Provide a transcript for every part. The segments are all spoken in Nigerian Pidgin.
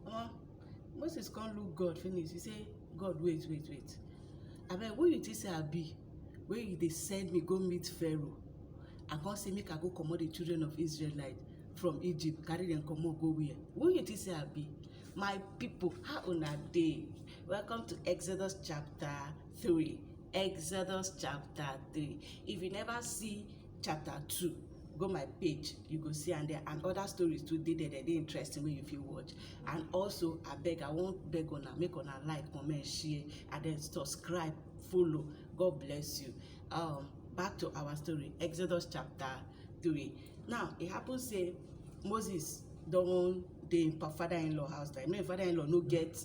Omo, Moses come look God finish, he say, God wait, wait, wait. Abeg, who you think say I be wey you dey send me go meet Pharaoh and come say make I go comot the children of Israelite from Egypt, carry dem comot go where? Who you think say I be? My people, how una dey? Welcome to Exodus chapter three. Exodus chapter three. If you never see chapter two go my page you go see am there and other stories too dey there dem dey interesting wey you fit watch and also abeg i wan beg una make una like comment share and then subscribe follow god bless you um, back to our story exodus chapter three now e happen say moses don dey im father-in-law house like make im father-in-law no get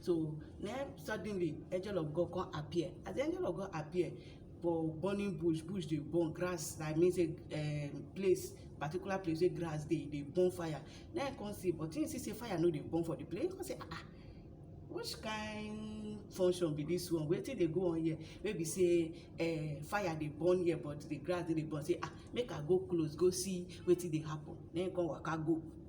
So na suddenly angel of God come appear. As the angel of God appear for burning bush, bush dey burn, grass that means say um, place particular place wey grass dey dey burn fire. Na him come see but him see say fire no dey burn for the place. He come say ah ah which kind function be this one wetin dey go on here wey be say uh, fire dey burn here but the grass no dey burn say ah make i go close go see wetin dey happen na him come waka go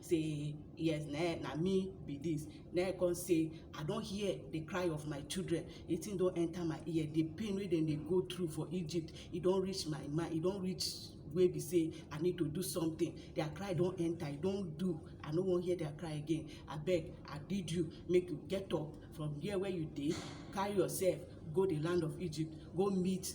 say yes na eh, na me be this na eh come say i don hear the cry of my children the thing don enter my ear the pain wey dem dey go through for egypt e don reach my mind e don reach wey be say i need to do something their cry don enter e don do i no wan hear their cry again abeg i bid you make you get up from there where you dey carry yourself go the land of egypt go meet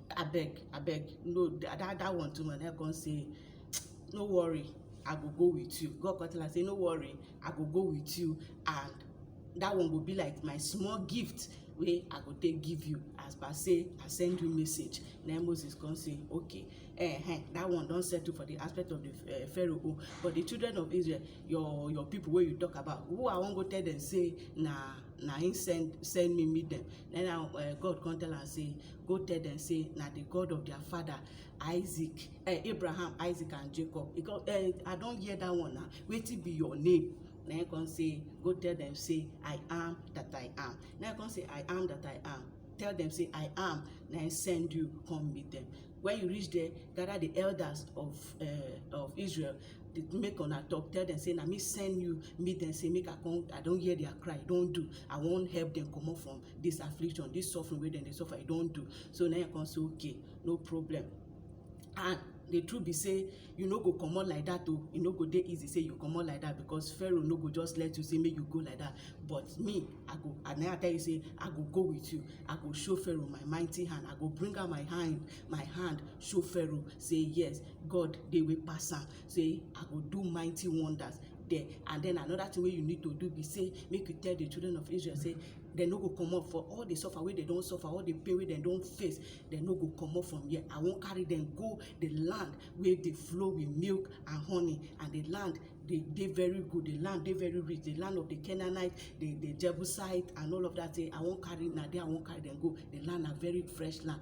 abeg abeg no that that, that one too much i come say no worry i go go with you god come tell am say no worry i go go with you and that one go be like my small gift wey i go take give you as per say i send you message na moses come say okay eh, eh that one don settle for the aspect of the uh, pharaoh own but the children of israel your your people wey you talk about who i wan go tell them say na na him send send me meet them then I, uh, god come tell am say Go tell dem sey na di God of dia fada Isaac um Abraham, Isaac and Jacob. E kon um I don hear dat one na, wetin be your name? Na im e kon sey, go tell dem sey I am dat I am. Na im e kon sey I am dat I am, tell dem sey I am na im send you kon meet dem. Wen you reach der, gada di elders of um of Israel, make una tok, tell dem sey na me send you meet dem sey make I kon, I don hear dia cry, e don do, I won help dem komot from this affliction this suffering wey dem dey suffer e don do so na him come say okay no problem and the truth be say you no go comot like that o e no go dey easy say you comot like that because pharaoh no go just let you say make you go like that but me i go and i tell you say i go go with you i go show pharaoh my mighty hand i go bring out my hand my hand show pharaoh say yes god dey wey pass am say i go do mighty wonders there and then another thing wey you need to do be say make you tell the children of israel say dem no go comot for all the suffer wey dem don suffer all the pain wey dem don face dem no go comot from here i wan carry dem go the land wey dey flow with milk and honey and the land dey dey very good the land dey very rich the land of the canaanite the the jebusite and all of that thing i wan carry na there i wan carry dem go the land na very fresh land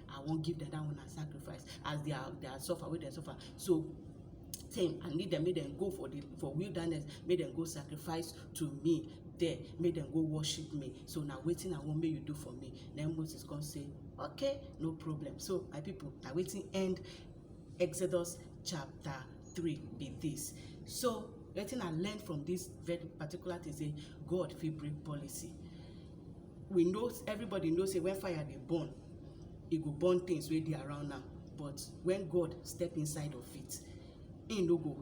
I wan give dada una sacrifice as their their suffer wey dem suffer so same I need dem make dem go for the for wilderness make dem go sacrifice to me there make dem go worship me so na wetin I wan make you do for me na Moses come say okay no problem so my people na wetin end Exodus chapter three be this so wetin I learn from this very particular thing say God fit break policy we know everybody know say when fire dey burn e go burn things wey dey around am but when god step inside of it he no go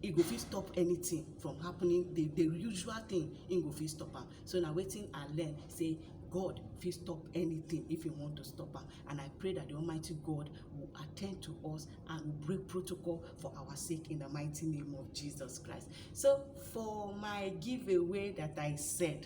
he go fit stop anything from happening the the usual thing he go fit stop am so na wetin i learn say god fit stop anything if he want to stop am and i pray that the almighty god will attend to us and will break protocol for our sake in the mighty name of jesus christ so for my giveaway that i said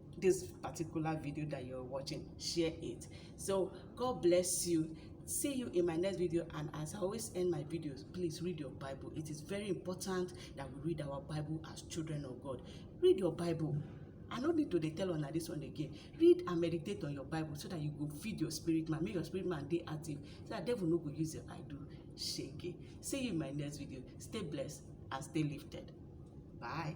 this particular video that you're watching share it so god bless you see you in my next video and as i always end my videos please read your bible it is very important that we read our bible as children of god read your bible I no need to dey tell una this one again. Read and meditate on your Bible so that you go feed your spirit man. Make your spirit man dey active so that devil no go use your eye do shege. See you in my next video. Stay blessed and stay lifted. Bye.